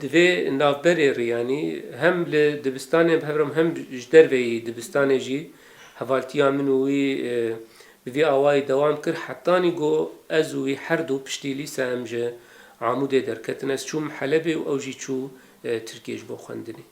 Di vê navberê Riyanî hem li dibistanê em hev re hem ji derveyî dibistanê jî hevaltiya min û wî bi vî awayî dewam kir. Hetanî got ez û wî her du piştî lîse em ji Amûdê derketin. Ez çûm Helebê û ew jî çû Tirkiyê ji bo xwendinê.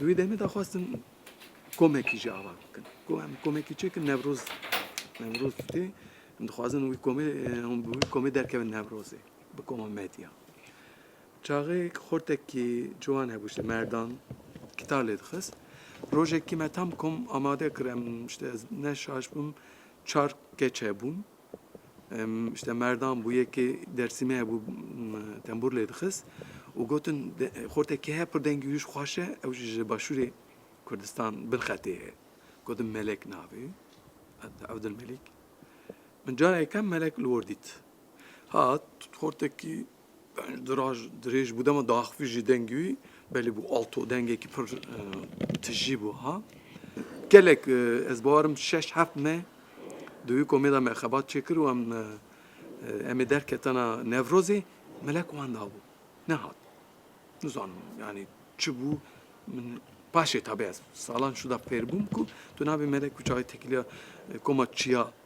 Duyê demê da xwastin komekî jî ava bikin. Ku em komekî çêkin Newroz Newroz tê. Em dixwazin wî komê hûn bi wî komê derkevin Newrozê bi koma medya. Çaxêk xortekî ciwan hebû ji merdan kîtar lê dixist. Rojekî me tam kom amade kir em işte ez ne şaş bûm çar keç hebûn. Em işte merdan bû yekê dersîmê hebû tembûr lê dixist û gotin xortekî heye pir dengî wî ji xweş e ew jî ji başûrê Kurdistan bin xetê ye. Gotin Melek navê ye Evdilmelîk. Min cara yekem Melek li wir dît. Hat xortekî Yani diraj, dirêj bû dema daxivî jî dengî wî belê bû alto dengekî pir tijî bû ha. Gelek ez barim şeş heft me di wî komê de me xebat çêkir û em em ê derketana Nevrozê melek wan dabû. Nehat. Nizanim yani çi bû min paşê tabi ez salan şû da fêr bûm ku tu nabê melek û çavê tekiliya koma çiya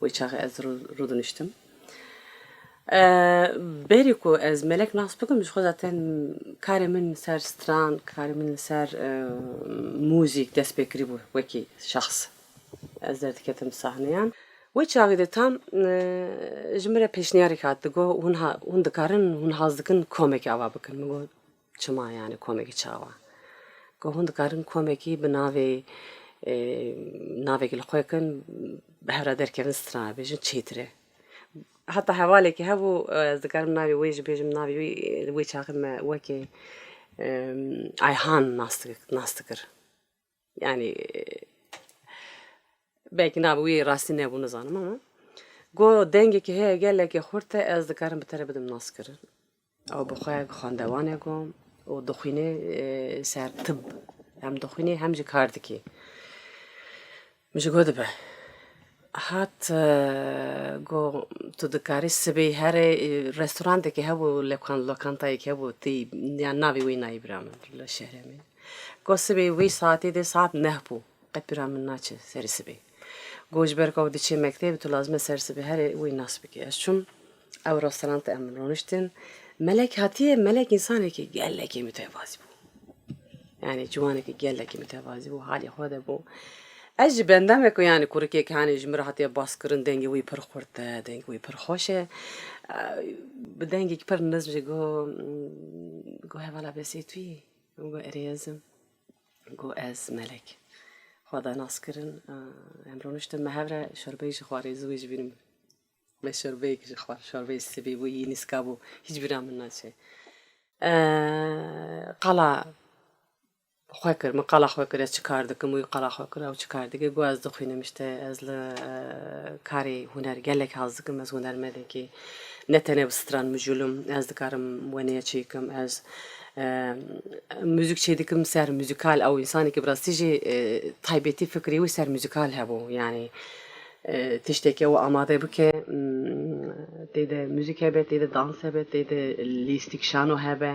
Wê çaxê ez rûdiniştim. Berî ku ez melek nas bikim ji xwe zaten karê min li ser stran, karê min li ser mûzîk dest pê kirîbû wekî şexs. Ez derdiketim sahneyan. Wê çaxê de tam ji min re pêşniyarek hat. Digot hûn dikarin, hûn haz dikin komekê ava bikin. Min got Çima yanî komekî çawa? Ku hûn dikarin komekî bi navê navekî li xwe kin bi hev re derkevin strana bêjin çêtir e. Heta hevalekî hebû ez dikarim navê wê jî bêjim navê wî wê çaxê me wekî Ayhan nas dikir. Yanî belkî nab wî rastî nebû nizanim ama got dengekî heye gelekî xurt e ez dikarim bi te re bidim naskirin. Ew bi xwe xandewan e got û dixwîne ser tib hem dixwîne hem jî kar dike. Min ji gor dibe hat got tu dikarî sibê herî restorandekî hebû lokantayekî hebû tî yan navê wê nayê bira min li şerê me got sibê wê saetê de saet neh bû qet bira min naçe serê sibê got ji ber ku ew diçe mekteb tu lazim e serê sibê herî wê nas bikî ez çûm Ewro selam te em min roniştin. Melek hatiye melek insanekî gelekî mitevazî bû. Yani ciwanekî gelekî mitevazî bû halê xwe de bû. Ez ji benda me ku yani kurikê ki hani ji min re hatiye baskirin dengê wî pir xurt e, dengê wî pir xweş e. Bi dengekî pir nizm jî got got hevala Besêtûyî min got erê ez im. Got ez melek. Xwe da nas kirin em roniştin me hev re şorbeyê jî xwarê ziwê jî vînim. Me şorbeyek ji xwar şorbeyê sibî bû yî nîska bû hîç bîra min naçe qala xwe kir min qala xwe kir ez çi kar dikim wî qala xwe kir ew çi kar dike got ez dixwînim îşte ez li karê huner gelek haz dikim ez hunermendekî ne tenê bi stran mijûl im ez dikarim wenêya çê bikim ez mûzik çê dikim ser mûzîkal ew însanekî bi rastî jî taybetî fikrî wî ser mûzîkal hebû yanî Tişteke we amade bike tê de muzîk hebe, tê de dans hebe, tê de lîstîk şano hebe.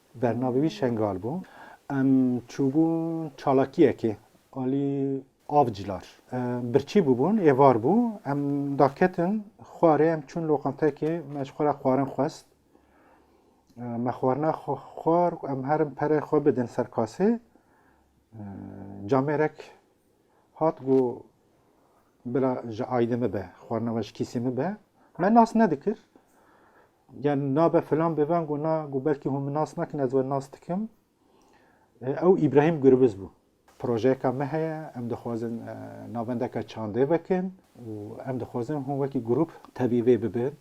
Bernavê wî Şengal bû. Em çûbûn çalakiyekê alî avclar. Birçî bûbûn, êvar bû. Em daketin xwarê, em çûn loqantekê. Me ji xwe re xwarin xwest. Me xwarina xwe xwar, em herin pere xwe bidin ser kasê. Camêrek hat got bila ji aydê min be, xwarina me ji kîsê min be. Me nas nedikir. Yani nabe filan biven gu na gu belkî hûn min nas nakin ez we nas dikim. Ew Îbrahîm Gurbiz bû. Projeyeka me heye, em dixwazin navendeke çandê vekin û em dixwazin hûn wekî grûp tevî vê bibin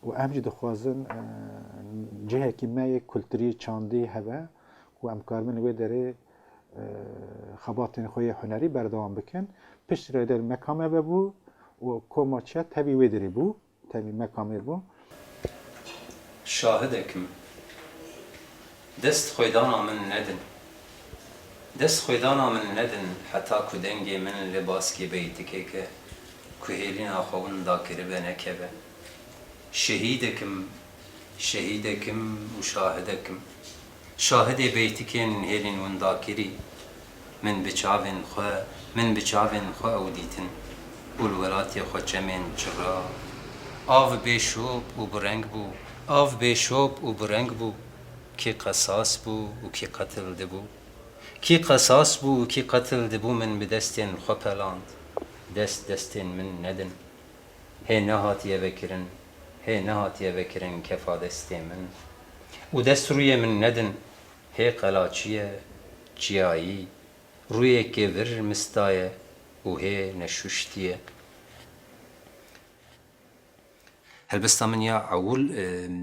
û em jî dixwazin cihekî me yê kulturî, çandî hebe ku em karibin li wê derê xebatên xwe yê hunerî berdewam bikin. Piştre der mekame vebû û koma çiya tevî wê derê bû. Tevî me kamê bû. Şahidek im. Dest xwêdana min nedin. Dest xwêdana min nedin heta ku dengê min li baskê beytikeke ku hêlîna xwe winda kiribe nekeve. Şehîdek im, şehîdek im û şahidek im. Şahidê beytikên hêlên winda kirî Min bi çavên xwe, min bi çavên xwe ew dîtin û li welatê xwe çemên çira Av bê şop û bi reng bû, av bê şop û bi reng bû Kî qesas bû û kî qetil dibû Kî qesas bû û kî qetil dibû Min bi destên xwe peland, dest destên min nedin. Hê nehatiye vekirin, hê nehatiye vekirin kefa destê min û dest rûyê min nedin hê qelaçiye, çiyayî, rûyêkê vir mistaye û hê neşuştiye. Helbesta min ya ewil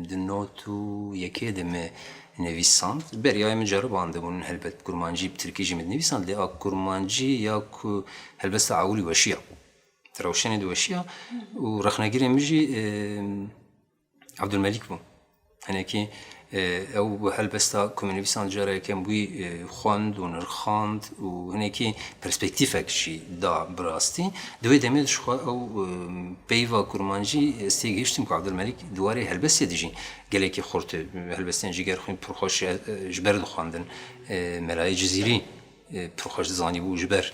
di not û yekê de mi nivîsand. Beryayê min ceribandibûn helbet kurmancî bi tirkî jî mi dinivîsand lê a kurmancî ya ku helbesta ewilî weşiya. Ti rewşenê diweşiya û rexnegirê min jî Abdulmelîk bû. Hinekî ew bi helbesta komînivîsan cara yekem wî xwend û nirxand û hinekî perspektîfek jî da bi rastî. Di wê demê dişixwe ew peyva kurmancî ez tê gihiştim ku Abdulmelîk di warê helbestê de jî gelekî xurt e. Helbestên jîger xwîn pir xweş ji ber dixwendin. Melayê Cizîrî pir xweş dizanîbû ji ber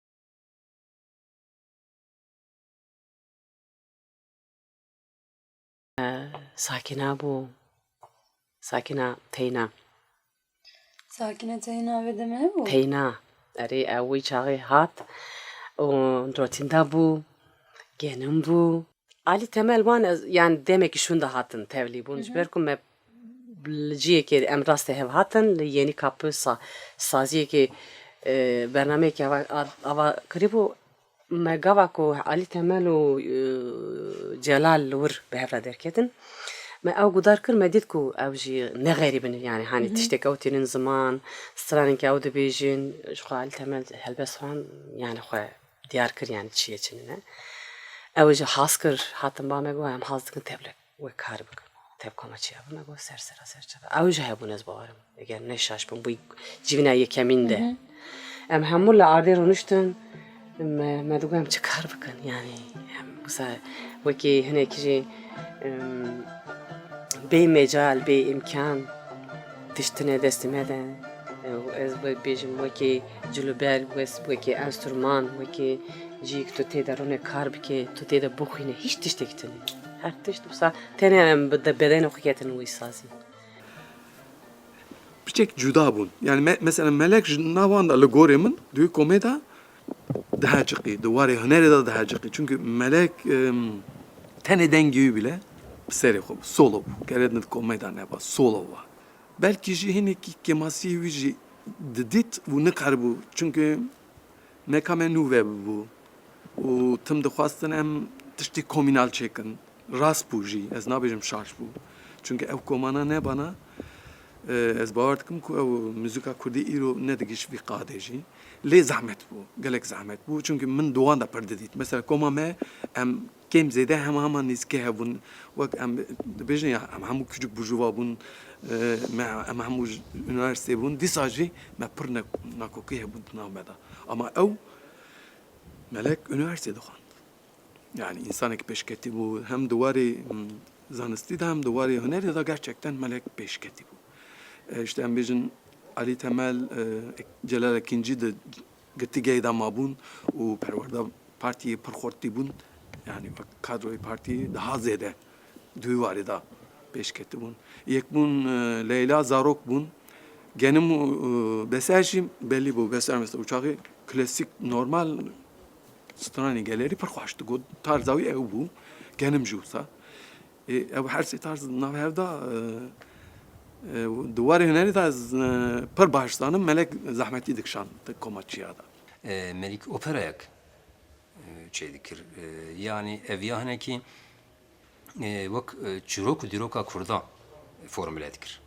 Sakîna bû. Sakîna teyna. Sakîna teyna vê demê hebû? Teyna. Erê ew wî çaxê hat û dotînda bû, genim bû. A li temel wan ez yan demekî şûnde hatin tevlî bûn ji ber ku me li ciyekê em rastê hev hatin li Yeni Kapı sa saziyekê bernameyekê ava ava kirîbû me gava ku Alî Temel û Celal li wir bi hev re derketin me ew gudar kir me dît ku ew jî ne xerîb in yanî hanî tiştek ew tînin ziman stranên ku ew dibêjin jixwe Alî Temel helbest wan yanî xwe Diyar kir yanî çi yê çi nîne. Ew jî has kir hatin ba me got em haz dikin tevlek wê kar bikin. Tevka me çiya me got ser sera ser çiya. Ew jî hebûn ez bawerim eger ne şaş bûm bûyî civîna yekemîn de. Em hemû li ardê rûniştin me digot em çi kar bikin yanî em wisa wekî hinekî jî bê mecal bê îmkan tiştine destê me de û ez wê bêjim wekî Ji li ber wes wekî enstrûman wekî cî ku tu tê de rûnê kar bikê tu tê de bixwînî hîç tiştek tune her tişt wisa tenê em bi bedenê xwe ketin wî sazî. Piçek cuda bûn yani me mesela melek ji navan de li gorê min di wê komê de daha çiqî di warê hunerê de daha çiqî çünkü melek tenê dengê wî bile bi serê xwe bi solo bû keret min di komê de neba solo wa. Belkî jî hinekî kemasiyê wî jî didît û nikaribû çimkî neka me nû vebûbû û tim dixwastin em tiştî komînal çêkin. Rast bû jî, ez nabêjim şaş bû. Çimkî ew komana nebana, ez bawer dikim ku ew muzîka kurdî îro nedigihîşt vî qadê jî. Lê zehmet bû, gelek zehmet bû çimkî min di wan de pir didît. Mesela koma me em. Kêm zêde hema hema nêzîkê hebûn. Wek em dibêjin ya em hemû kiçik bû cuva bûn, me em hemû ji unîversîtê bûn. Dîsa jî me pir ne nakokî hebûn di nav me de. Ama ew Melek unîversîtê dixwend. Yanî însanekî pêşketî bû. Hem di warê zanistî de hem di warê hunerê de gerçekten Melek pêşketî bû. Îşte em bêjin Alî Temel, Celal Ekîncî di Girtîgehê de mabûn û perwerda partiyê pir xurt tîbûn, yanî wek kadroyê partiyê daha zêde duy warê de pêş ketibûn. Yek bûn Leyla, zarok bûn, genim û beser jî belî bû. Beser mesela uçaxê klasîk normal stranên gelerî pir xweş digot. Tarza wî ew bû, genim jî wisa. Ew her sê tarz di nav hev de û di warê hunerê de ez pir baş dizanim. Melek zehmetî dikişand di koma çiya de. Melîk operayek çêy dikir. Yanî ev ya hinekî wek çîrok û dîroka kurdan formule dikir.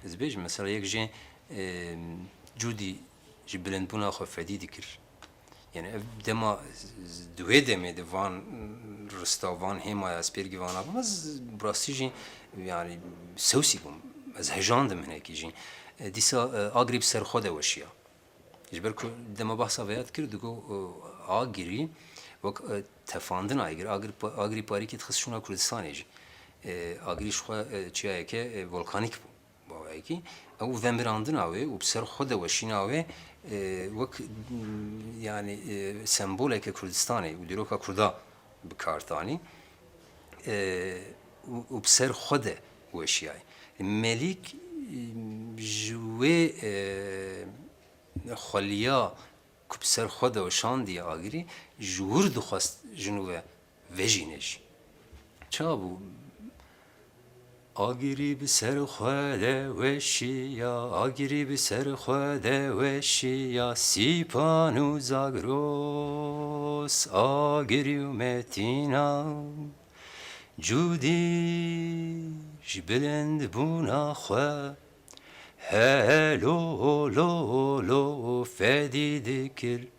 Ez dibêjim mesela yek jê cûdî ji bilindbûna xwe fedî dikir. Yani ev dema di wê demê di van rista van hêmaya ez pêr givana bûm ez bi rastî jî yani sewsî bûm ez hejandim hinekî jî dîsa agirî bi ser xwe de weşiya ji ber ku dema behsa vêya dikir digo agirî wek tefandin agir agir agirî parîkê dixist şûna Kurdistanê jî agirî ji xwe çiyayeke volkanîk bû Bawayekî, ew vemirandina wê û bi ser xwe de weşîna wê wek yanî semboleke Kurdistanê û dîroka Kurda bi kar tanî û bi ser xwe de weşiyay. Melîk ji wê xweliya ku bi ser xwe de weşandiye agirî, ji wir dixwest jin we Vejîne jî ça bû. Agirî bi ser xwe de weşiya, agirî bi ser xwe de weşiya, Sîpan û Zagros, Agirî û Metîna, Cûdî ji bilindbûna xwe, Helo, lo, lo, fedî dikir.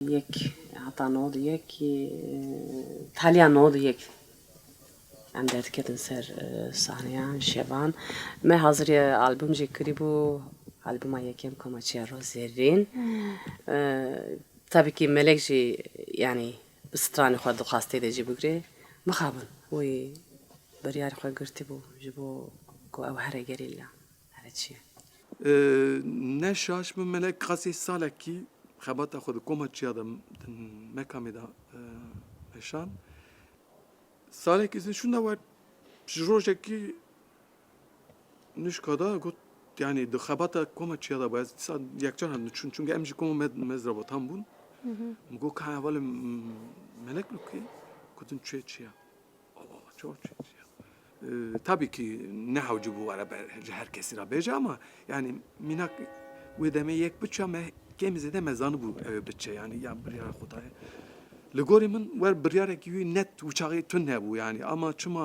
Yek heta nod û yek yê taliya nod û yek em derdiketin ser sahneya şevan. Me hazirî albûm jî kirîbû, albûma yekem Komaçeya Rû Zerrîn. Tabî kî Melek jî yanî bi stranê xwe dixwast tê de jî bigirê. Mixabin wî biryarê xwe girtîbû ji bo ku ew here gerîla. Heve çi ye? Ne şaş min mele qasê salekî xebata xwe di koma çiya de di mekamê de meşand. Salekî ez nişûn da we ji rojekî nuşka da got yani di xebata koma çiya da ez dîsa yekcar hat niçûn çunke em ji koma me mezrabatan bûn. Min got ka hevalê melek lûkê gotin çê çiya. Tabî kî nehewci bû were ber ji her kesî re bêje ama yanî mînak wê demê yek biçe me kêm û zêde me zanibû ew ê biçe yanî ya biryara xwe daye. Li gorî min wer biryarekî wî net û çaxê tund hebû yanî ama çima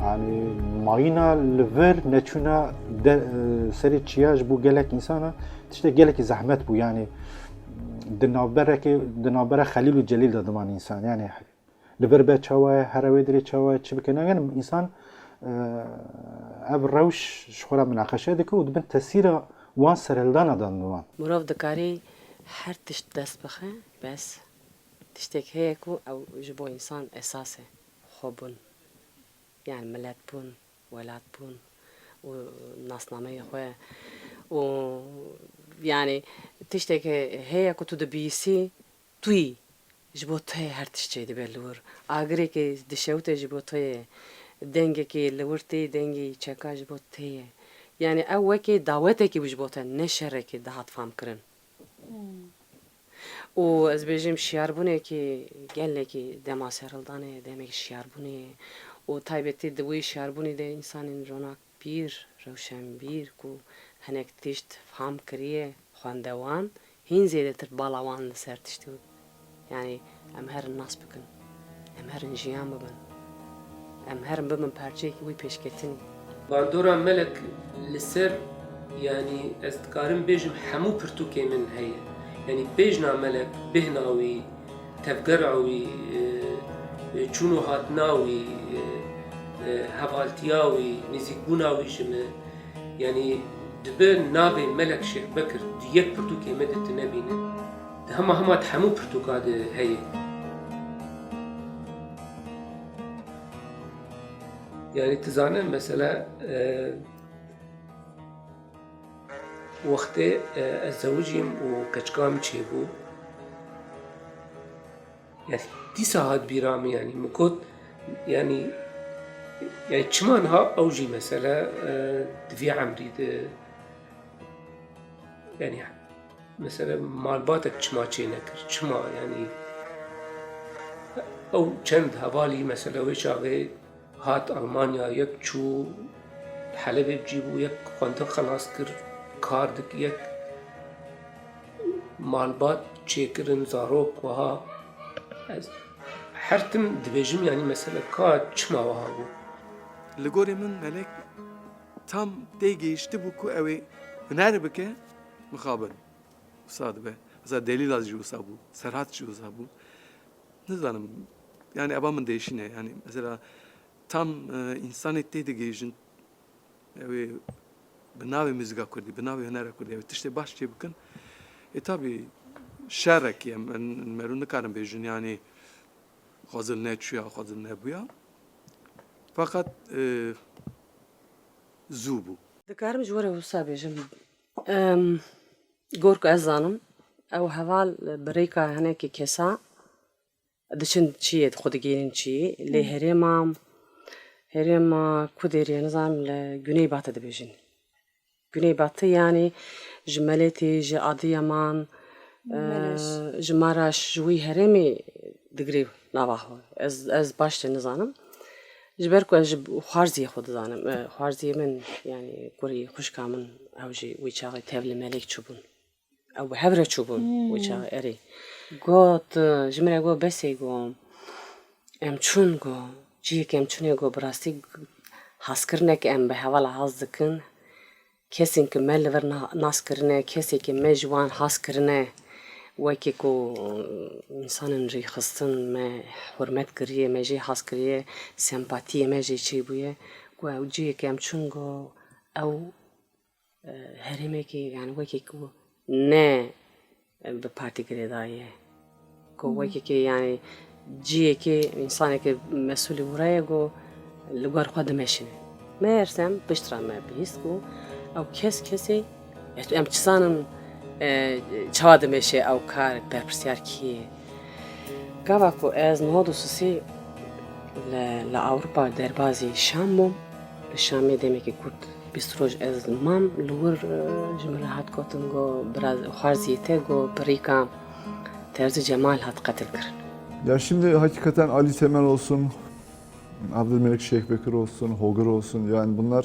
Hani mayina li vir neçûna e, serê çiya ji bo gelek însana tiştek gelekî zehmet bû yanî di navberekê di navbera xelîl û celîl de diman însan yanî li vir be çawa ye here wê dirê çawa ye çi bike negenim însan e, ev rewş ji xwe re minaqeşe dike û dibin tesîra wan serhildana dan diwan. Mirov dikarî her tişt dest bixe bes tiştek heye ku ew ji bo însan esas e xwebûn. Yani milet bûn, welat bûn û nasnameyê xwe û yani tiştekê heye ku tu dibîsî tuyî ji bo toyê her tişt çê dibe li wir. Agirêkê dişewite ji bo toyê, dengekê li wir tê dengê çeka ji bo toyê. Yani ew wekê dawetekî bû ji bo te ne şerekê dihat famkirin. Û ez bêjim şiyarbûnekî gelekî dema serildanê ye, demekî şiyarbûnê ye û taybetî di wî şiyarbûnî de însanên ronakbîr, rewşenbîr ku hinek tişt fam kiriye xwendewan hîn zêdetir bala wan li ser tiştî Yanî em herin nas bikin, em herin jiyan bibin, em herin bibin parçeyekî wî pêşketinî. Bandora Melek li ser yanî ez dikarim bêjim hemû pirtûkên min heye. Yanî bêjna Melek, bêhna wî, tevgera wî, çûn û hatina wî, hevaltiya wî, nêzîkbûna wî ji min. Yanî dibe navê Melek Şêxbekir di yek pirtûkê me de tu nebîne. Di hema hema di hemû pirtûka de heye. Yani tu zane mesela wextê ez zewicîm û keçika min çêbû yani dîsa hat bîra min yani min got yani yani çima niha ew jî mesela di vê emrî de yani Mesela malbatek çima çê nekir? Çima yani ew çend hevalî mesela wê çavê hat Almanya yek çû Helebê bicî bû yek xwendik xelas kir kar dik yek malbat çêkirin zarok wiha ez her tim dibêjim yanî mesela ka çima wiha bû. Li gorê min melek tam tê gihiştibû ku ew ê huner bike Mixabin. Wisa dibe. Wisa Delîla jî wisa bû. Serhat jî wisa bû. Nizanim. Yani eba min değişîne. Yani mesela tam insanê tê digihîjin ew ê bi navê muzîka Kurdî, bi navê hunera Kurdî ew ê tiştê baş çê bikin. Ê tabî şerek ye. Min merû nikarim bêjin yani xwezil neçûya, xwezil nebûya. Feqet zû bû. Dikarim ji we re wisa bêjim. Gor ku ez zanim, ew heval bi rêka hinekî kesa diçin çiyê xwe digihînin çiyê. Lê herêma herêma ku dêrî ye nizanim li Guney Batı dibêjin. Guney Batı yanî ji Meletê, ji Adiyaman, ji Maraş ji wî herêmê digirê nava xwe. Ez ez baş jî nizanim. Ji ber ku ez ji xwarziyê xwe dizanim. Xwarziyê min yanî kurê xwişka min ew jî wê çaxê tev li melek çûbûn. Ew bi hev re çûbûn wê çaxê erê. Got ji min re got besê got em çûn got cihêkê em çûnê got bi rastî haskirineke em bi hevala has dikin. Kesên ku me li vir nas kirine, kesên ku me ji wan hez kirine, wekî ku însan in rê xistin, me hurmet kiriye, me jê hez kiriye, sempatiyê me jê çêbûye, ku ew cihêk em çûn ku ew herêmekî, yanî wekî ku ne. Bi partî girêdayî ye. Ku wekîkê yanî ciyekê însanekê mesûlî wira ye ku li gor xwe dimeşin. Mersem piştra me bihîst ku ew kes kesê em çizanin çawa dimeşe ew kar berpirsiyar kî ye. Gava ku ez niha dûsisî li Ewropa derbazî Şam bûm, li Şamê demekî kurt bîst roj ez mam li wir ji min re hat gotin ku xwarziyê te ku bi rîka Terzi Cemal hat qetilkirin. Ya şimdi hakikaten Ali Temel olsun, Abdülmelik Şeyh Bekir olsun, Hogır olsun yani bunlar